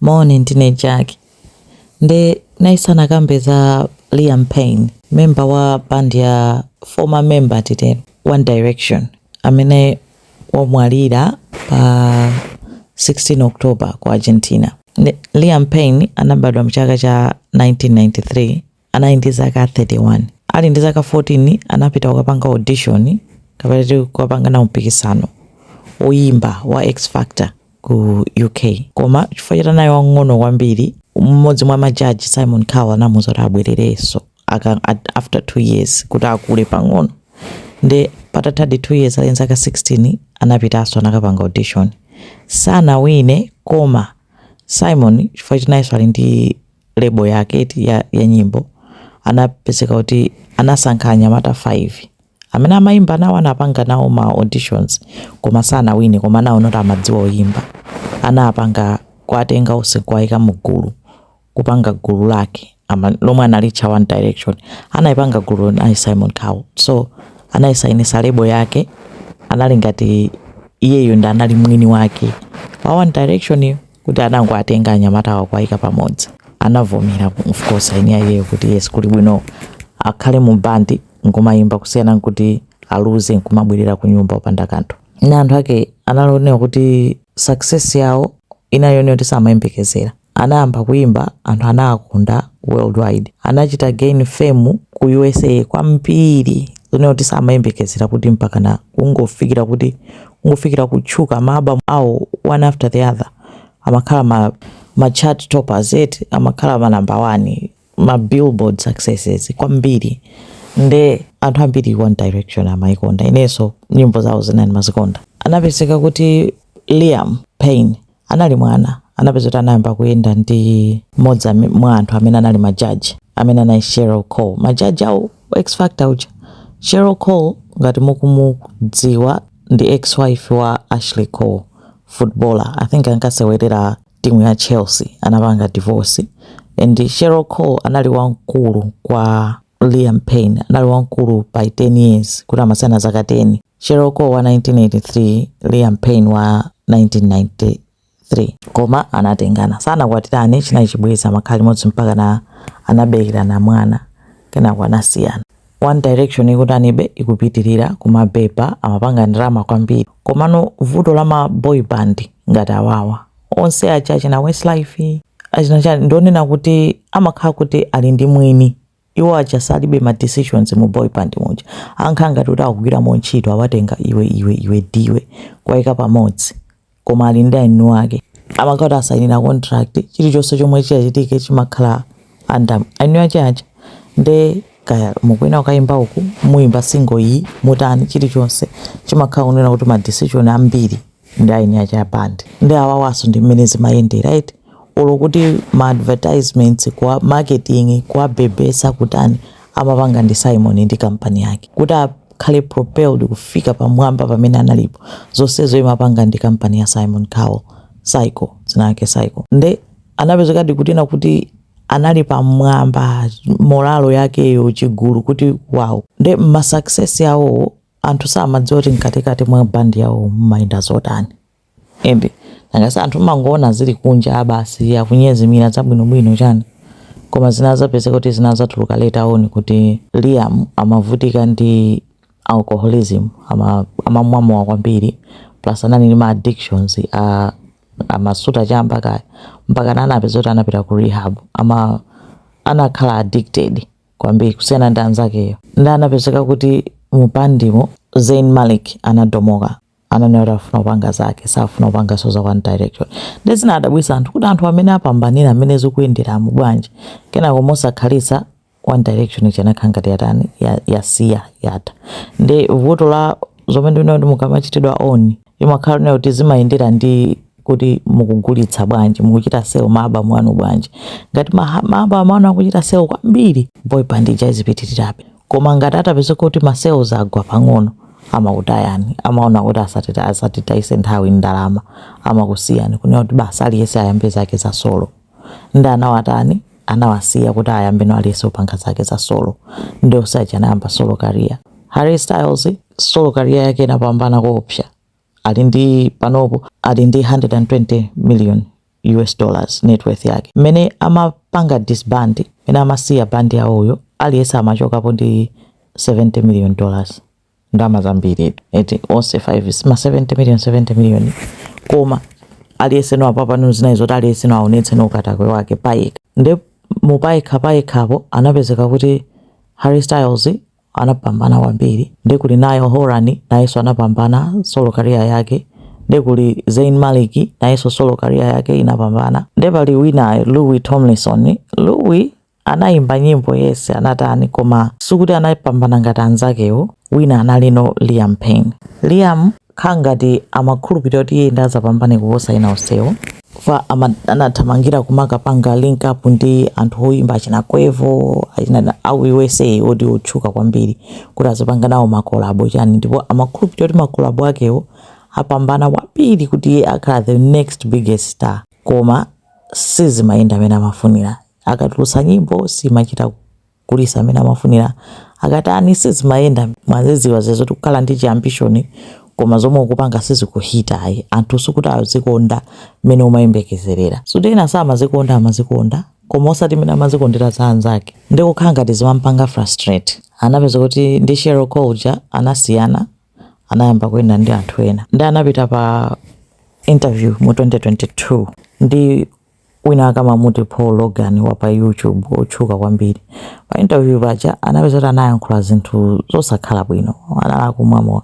Moni, ndine Jack. Nde ndayesa ndikambe za Liam Payne, member wa band ya former member titero One Direction amene wamwalira pa 16 October ku Argentina. Nde Liam Payne anabadwa mchaka cha 1993 anali ndi zaka 31. Ali ndi zaka 14 anapita kukapanga audition kapena kuti kukapanga nawo mpikisano woyimba wa X Factor ku UK. Koma chifukwa choti anali wamng'ono kwambiri, mmodzi mwa majaji Simon Cowell anamuuza kuti abwererenso aka- at- after 2 years kuti akule pang'ono. Nde patathadi 2 years ali ndi zaka 16 anapitanso anakapanga audition. Sanawine koma Simon chifukwa choti nayenso ali ndi label yake eti ya, ya nyimbo anapezeka kuti anasankha anyamata 5 amene amayimba nawo anapanga nawo ma auditions koma sanawine koma anaona kuti amadziwa oyimba anapanga kuwatenga onse kuwayika mu gulu kupanga gulu lake ama, lomwe analitcha one direction anayipanga gulu anayi simon cowell so anayisayinisa lebo yake anali ngati iyeyo ndi anali mwini wake wa one direction yo kuti anangowatenga anyamatawo kuwaika pamodzi anavomera of course eni akewo kuti yes kuli bwino akhale mu bandi nkumayimba kusiyana nkuti aluze nkumabwerera ku nyumba opanda kanthu nanthawi yake analolera kuti success yawo inali yonena kuti samayembekezera anayamba kuimba anthu anawakonda worldwide anachita gain fame ku usa kwambiri zonena kuti samayembekezera kuti mpakana kungofikira kuti ngofikira kutchuka ma album awo one after the other amakhala ma, ma chart toppers eti amakhala ma number one ma billboard successes kwambiri nde anthu ambiri one direction amayikonda inenso nyimbo zawo zina ndinkamazikonda anapezeka kuti liam payne anali mwana, anapezeka kuti anayamba kuyenda ndi mmodzi ame, mwa anthu amene anali majaji amene anali Cheryl Cole, majaji a u- X Factor uja. Cheryl Cole ngati mukumudziwa ndi ex wife wa Ashley Cole, footballer. I think ankasewerera timu ya Chelsea, anapanga divorce. And Cheryl Cole anali wamkulu kwa Liam Payne, anali wamkulu by 10 years, kuti amasiyana zaka 10. Cheryl Cole wa 1983, Liam Payne wa 1993. Koma anatengana, sanakwatirane, chinali chibwezi, amakhala limodzi mpakana anaberekerana mwana kenako anasiyana. One Direction ikutanibe ikupitirira kumabeba, amapanga ndalama kwambiri. Komano vuto la ma boy band ngati awawa onse aja achina Westlife achina chani ndi lonena kuti amakhala kuti ali ndi mwini Iwo aja salibe ma decisions mu boy band muja amakhala ngati kuti akugwiramo ntchito awatenga iwe iwe iwe ndiwe kuwaika pamodzi koma ali ndi eni ake amakhala kuti asainira contract chilichonse chomwe chitachitike chimakhala under eni ake aja nde kaya mukufuna kukaimba uku muimba single iyi mutani chilichonse chimakhala kunena kuti ma decision ambiri ndi eni ake a band nde awawanso ndi mmene zimayendera eti olo kuti ma advertisements kwa marketing kubebetsa kutani amapanga ndi simon ndi kampani yake kuti akhale propelled kufika pamwamba pamene analipo zonsezo imapanga ndi kampani ya simon cowell syco dzina lake syco nde anapezekadi kunena kuti anali pamwamba moralo yakeyo chigulu kuti wow nde ma success yawo anthu samadziwa kuti mkatikati mwa bandi yawo mumayenda zotani ende ngati anthu mumangoona zili kunja ah basi akunyezimira zabwinobwino chani koma zinadzapezeka kuti zinadzatuluka later on kuti liam amavutika ndi alcoholism ama- amamwa mowa kwambiri plus anali ndi ma addictions a amasuta chamba kaya mpaka anapezeka kuti anapita ku rehab ama anakhala addicted kwambiri kusiyana ndi anzakeyo nde anapezeka kuti mubandimo zayn malik anadomoka ananena kuti afuna kupanga zake safuna kupanganso za one direction nde zinawadabwitsa anthu kuti anthu amene apambanira amene zikuwayendera mu bwanji kenako mosakhalitsa one direction ija inakhala ngati yatani ya- yasiya yatha nde vuto la zomwe ndimene kuti mukamachitidwa own imakhala kunena kuti zimayendera ndi kuti mukugulitsa bwanji mukuchita sell ma album anu bwanji ngati ma album anu akuchita sell kwambiri boy band ija izipitirirabe koma ngati atapezeka kuti ma sales agwa pang'ono amakutayani amaona kuti asatita asatitayise nthawi ndalama amakusiyani kunena kuti basi aliyense ayambe zake za solo Nde anawatani? Anawasiya kuti ayambeno aliyense kupanga zake za solo. Nde onse aja anayamba solo career. Harry Styles solo career yake inapambana koopsa. Ali ndi panopo ali ndi 120 million US dollars net worth yake. Mmene amapanga disband, mmene amasiya band yawoyo, aliyense amachokapo ndi 70 million dollars. ndalama zambiri eti onse 5 ma 70 million 70 million koma aliyense no apapa no zinali zoti aliyense no aonetse no ukatswiri wake payekha nde mu payekha payekhapo anapezeka kuti Harry Styles anapambana kwambiri nde kuli Niall Horan nayenso anapambana solo career yake nde kuli Zayn Malik nayenso solo career yake inapambana nde pali wina Louis Tomlinson Louis Anayimba nyimbo yense anatani koma sikuti anapambana ngati anzakewo wina analino Liam Payne. Liam kukhala ngati amakhulupilira kuti iye nde azapambane kuposa ena onsewo. Chifukwa anathamangira kumakapanga link up ndi anthu oyimba achina Quavo achina a ku USA oti otchuka kwambiri kuti azipanga nawo ma collabo chani ndipo amakhulupilira kuti ma collabo akewo apambana kwambiri kuti iye akhala the next biggest star koma sizimayenda mene amafunira. akatulutsa nyimbo simachita kugulitsa mmene amafunira akatani sizimayenda mumaziziwa zija zoti kukhala ndi chi ambition koma zomwe ukupanga sizikuhita ayi anthu sikuti azikonda mmene umayembekezerera zoti ena samazikonda amazikonda koma osati mmene amazikondera za anzake nde kukhala ngati zimampanga frustrate anapeza kuti ndi Cheryl Cole uja anasiyana anayamba kuyenda ndi anthu ena nde anapita pa interview mu 2022 ndi winawake amamuti Paul Logan wa pa YouTube wotchuka kwambiri. Pa interview paja anapeza kuti anayankhula zinthu zosakhala bwino, anali akumwa mowa,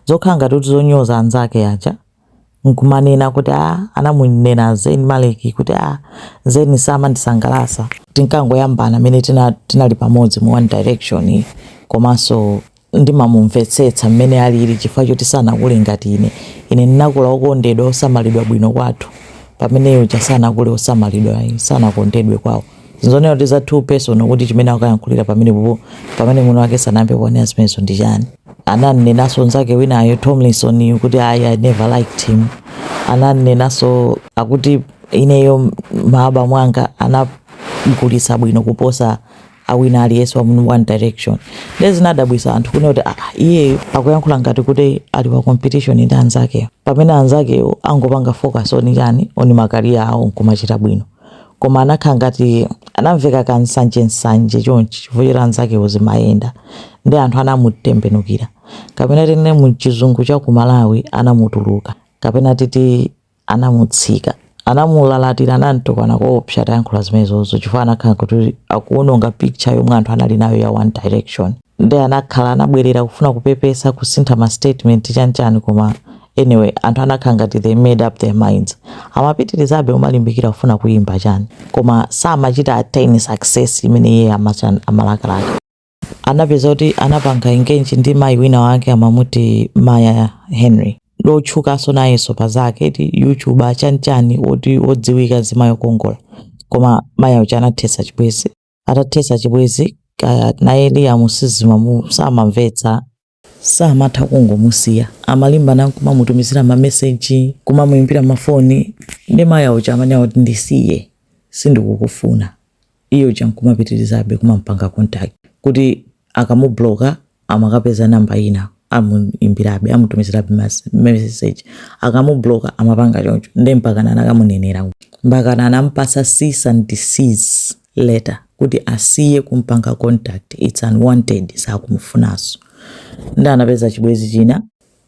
zokhala ngati kuti zonyoza anzake aja nkumanena kuti a anamunena Zayn Malik kuti a Zayn samandisangalatsa, tinkangoyambana mmene tinali pamodzi mu One Direction komanso Ndimamumvetsetsa mmene aliri chifukwa choti sanakule ngati ine. Ine ndinakula wokondedwa, wosamalidwa bwino kwathu, pamene iye uja sanakule wosamalidwa ayi, sanakondedwe kwawo. Zinthu zonena kuti za too personal kuti chimene akukayankhulira pamenepopo pamene mwini wake sanayambe kuwanena zimenezo ndi chani. Anam'nenanso nzake winayo, Tomlinson yu, kuti ayi, I never liked him. Anam'nenanso akuti ineyo, ma albamu anga anagulitsa bwino kuposa a wina aliyense wa mu one direction ndiye zinadabwisa anthu kunena kuti aa iyeyu akuyankhula ngati kuti ali pa competition ndi anzakewo pamene anzakewo angopanga focus oni chani oni makaliya awo nkumachita bwino koma anakhala ngati anamveka ka nsanje nsanje chonchi chifukwa choti anzakewo zimayenda ndi anthu anamutembenukira kapena tinene mu chizungu cha ku malawi anamutuluka kapena titi anamutsika, anamulalatira anamtukwana koopsa atayankhula zimenezozo chifukwa anakhala kuti akuononga picture yomwe anthu anali nayo ya one direction nde anakhala anabwerera kufuna kupepesa kusintha ma statement chani chani koma anyway anthu anakhala ngati they made up their minds amapitirizabe kumalimbikira kufuna kuyimba chani koma samachita attain success imene iye amalakalaka anapeza kuti anapanga engage ndi mayi wina wake amamuti maya henry ndiotchukanso nayenso pa zake ti youtuber chanchani oti odziwika nzimayi okongola koma maya uja anathetsa chibwezi atathetsa chibwezi ah, naye liam sizimamu samamvetsa saamatha kungomusiya amalimbana nkumamutumizira ma message kumamuimbira mafoni ndi Maya uja amanena kuti ndisiye sindikukufuna iye uja nkumapitirizabe kumampanga contact kuti akamubloka amakapeza namba ina amuimbirabe amutumizirabe message akamubloka amapanga choncho nde mpakana anakamunenera mpakana anampasa cease and desist letter kuti asiye kumpanga contact its unwanted sakumufunaso nde anapeza chibwezi china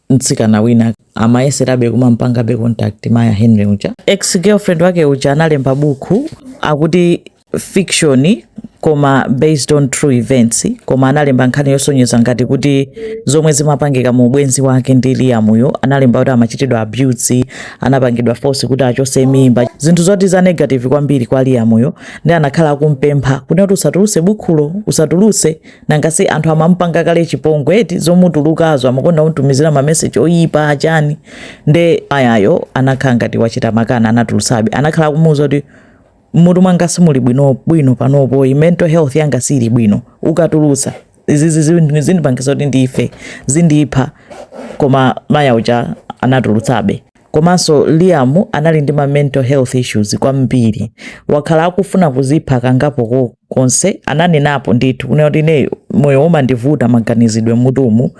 mtsikana wina amayeserabe kumampangabe contact maya henry uja ex girlfriend wake uja analemba bukhu akuti fiction koma based on true events koma analemba nkhani yosonyeza ngati kuti zomwe zimapangika mu ubwenzi wake ndi Liam uyo analemba kuti amachitidwa abuse anapangidwa force kuti achose mimba zinthu zoti za negative kwambiri kwa Liam uyo nde anakhala akumpempha kuti kuti usatuluse bukhulo usatuluse nanga si anthu amamupanga kale chipongwe eti zomutulukazo amakonda kumtumizira mameseji oyipa achani nde Mayayo anakhala ngati wachita makana anatulusabe anakhala akumuwuza kuti mmutu mwanga simuli bwino bwino panopo mental health yanga sili bwino ukatulutsa izizi zindipangitsa kuti ndife ndizipha koma maya uja anatulutsabe komanso liam anali ndi ma mental health issues kwambiri wakhala akufuna kuzipha kangapo konse ananenapo ndithu kunena kuti ineyo moyo umandivuta maganizidwe mmutumu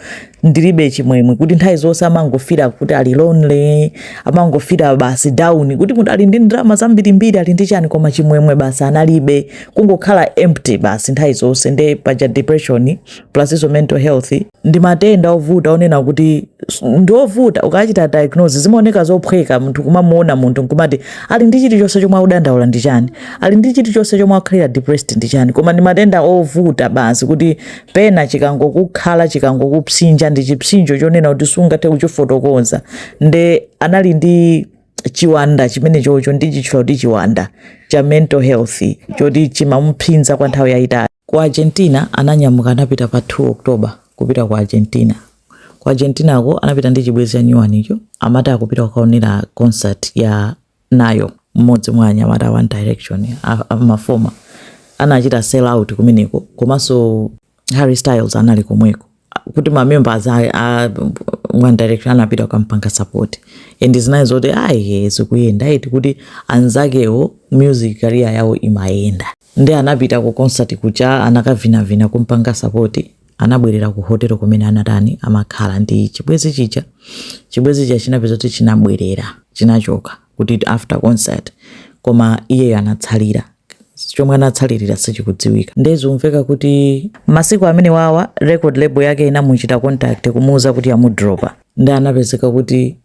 ndilibe chimwemwe kuti nthawi zonse amangofila kuti ali lonely amangofila basi down kuti munthu ali ndi ndalama zambirimbiri ali ndi chani koma chimwemwe basi analibe kungokhala empty basi nthawi zonse nde paja depression plus izo mental health ndi matenda ovuta onena kuti s- ndi ovuta ukachita diagnose zimaoneka zophweka munthu kumamuona munthu nkumati ali ndi chilichonse chomwe akudandaula ndi chani ali ndi chilichonse chomwe akukhalira depressed ndi chani koma ndi matenda ovuta basi kuti pena chikangokukhala chikangokupsinja ndi chipsinjo chonena kuti sungathe kuchifotokoza nde anali ndi chiwanda chimenecho cho ndichitchula kuti chiwanda cha mental health choti chimamuphinja kwa nthawi yayitali Ku Argentina, Ananyamuka anapita pa 2 October kupita ku Argentina. Ku Argentinako anapita ndi chibwenzi chanyuwanicho, amati akupita kukaonera concert ya Niall, mmodzi mwa anyamata a One Direction, a, ma former. Anachita sell out kumeneko, komanso Harry Styles anali komweko. kuti ma members a, a one direction anapita kukampanga support anzawo zinayi zoti ayi zikuyenda eti kuti anzakewo music career yawo imayenda nde anapita ku concert kuja anakavinavina kumpanga support anabwerera ku hotel kumene anatani amakhala ndi chibwezi chija chibwezi chija chinapezeka kuti chinabwerera chinachoka kuti after concert koma iyeyo anatsalira chomwe anatsalirira sichikudziwika nde zikumveka kuti masiku amene wawa record label yake inamuchita contact kumuuza kuti amudropa nde anapezeka kuti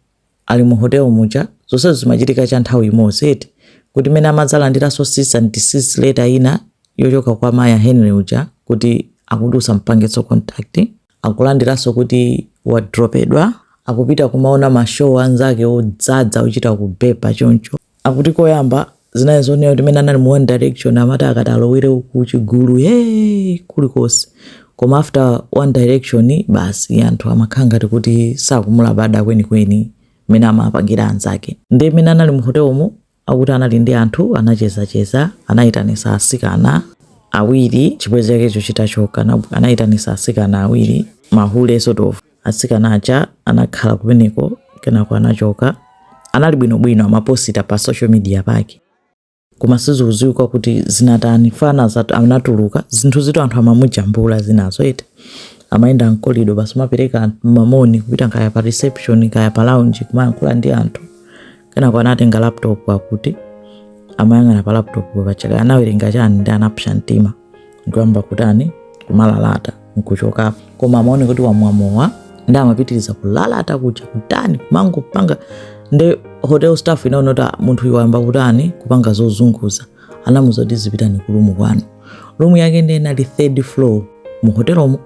ali mu hotel muja zonse zimachitika cha nthawi imodzi eti kuti mene amadzalandiranso cease and desist letter ina yochoka kwa maya henry uja kuti akuti usampangenso contact akulandiranso kuti wadropedwa akupita kumaona mashow anzake odzadza ochita kubeba choncho Akuti koyamba zinali zonena kuti mene anali mu one direction amati akati alowere ku chigulu hee kulikonse koma after one direction basi anthu amakhala ngati kuti sakumulabada kwenikweni mene amapangira anzake nde mene anali mu hotelomo akuti anali ndi anthu anachezacheza anayitanisa asikana awiri chibwezi chakecho chitachoka anayitanisa asikana awiri mahule sort of Asikana aja anakhala kumeneko kenako anachoka. Anali bwinobwino amaposita pa social media pake. Koma sizikudziwika kuti zinatani fana zatu anatuluka zinthu zoti anthu amamujambula zinazo eti. Amayenda mkolido basi kumapereka mamoni kupita kaya pa reception kaya pa lounge kumayankhula ndi anthu. kenako anatenga laptop akuti amayang'ana pa laptop paja kaya anawerenga chani nde anapsa mtima nkuyamba kutani kumalalata nkuchokapo koma amaoneka kuti wamwa mowa nde amapitiriza kulalata kuja kutani kumangopanga nde hotel staff inaona kuti "Ah, munthu uyu wayamba kutani kupanga zozunguza anamuza kuti muzipita ku rumu kwanu rumu yake ndi inali third floor mu hotelomo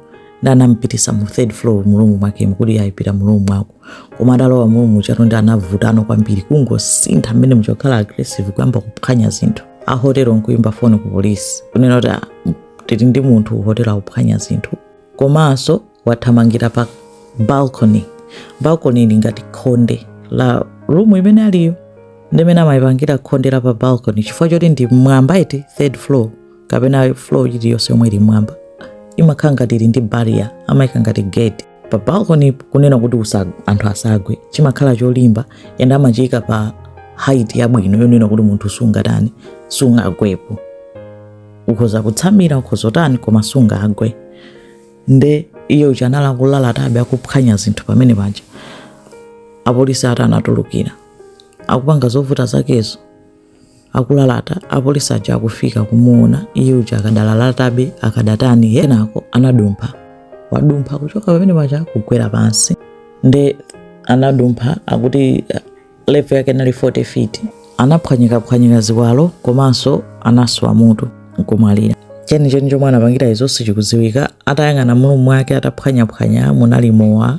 nde anampitisa mu third floor mu rumu mwakemo kuti azipita mu rumu mwake koma atalowa mu rumu mujatu nde anavutano kwambiri kungosintha mmene muja kukhala aggressive kuyamba kuphwanya zinthu a hotelo nkuyimba foni ku polisi kunena kuti "Ah, m- tili ndi munthu hotelo akuphwanya zinthu komanso wathamangira pa balcony balcony ili ngati khonde la rumu imene aliyo nde mmene amayipangira khonde la pa balcony chifukwa choti ndi mmwamba eti third floor kapena floor iliyonse yomwe ili mmwamba imakhala ngati ili ndi barrier amayika ngati gate pa balcony kunena kuti usa, anthu asagwe chimakhala cholimba and amachiyika pa height yabwino yonena kuti munthu sungatani sungagwepo ukhoza kutsamira ukhoza kutani koma sungagwe nde iye uja anali akulalatabe akuphwanya zinthu pamene paja apolisi atani atulukira akupanga zovuta zakezo akulalata apolisi aja akufika kumuona iye uja akadalalatabe akadatani kenako anadumpha wadumpha kuchoka pamene paja kugwera pansi nde anadumpha akuti eh, level yake inali 40 feet anaphwanyikaphwanyika ziwalo komanso anaswa mutu nkumwalira chenicheni chomwe anapangira izo sichikudziwika atayang'ana mu rumu mwake ataphwanyaphwanya munali mowa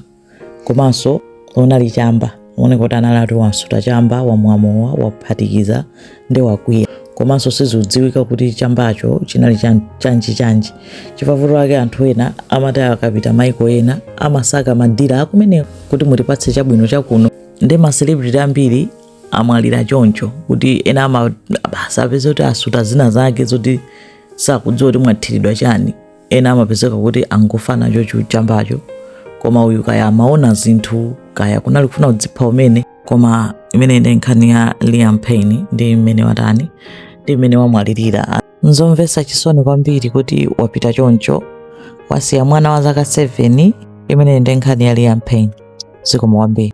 komanso unali chamba kuoneka kuti anali ati wasuta chamba wamwamowa waphatikiza ndi wakwiya komanso sizidziwika kuti chambacho chinali chan- chanji chanji chifavuto chake anthu ena amati akapita maiko ena amasaka madila akumeneko kuti mutipatse chabwino chakuno ndi maselebrity ambiri amwalira choncho kuti ena ama basi apeze kuti asuta zina zake zoti sakudziwa kuti mwathiridwa chani ena amapezeka kuti angofa nacho chochichambacho koma uyu kaya amaona zinthu kaya kunali kufuna kudzipha kumene koma imeneyi ndi nkhani ya liam payne ndi mmene watani ndi mmene wamwalirira nzomvetsa chisoni kwambiri kuti wapita choncho wasiya mwana wa zaka 7 imeneyi ndi nkhani ya liam payne zikomo kwambiri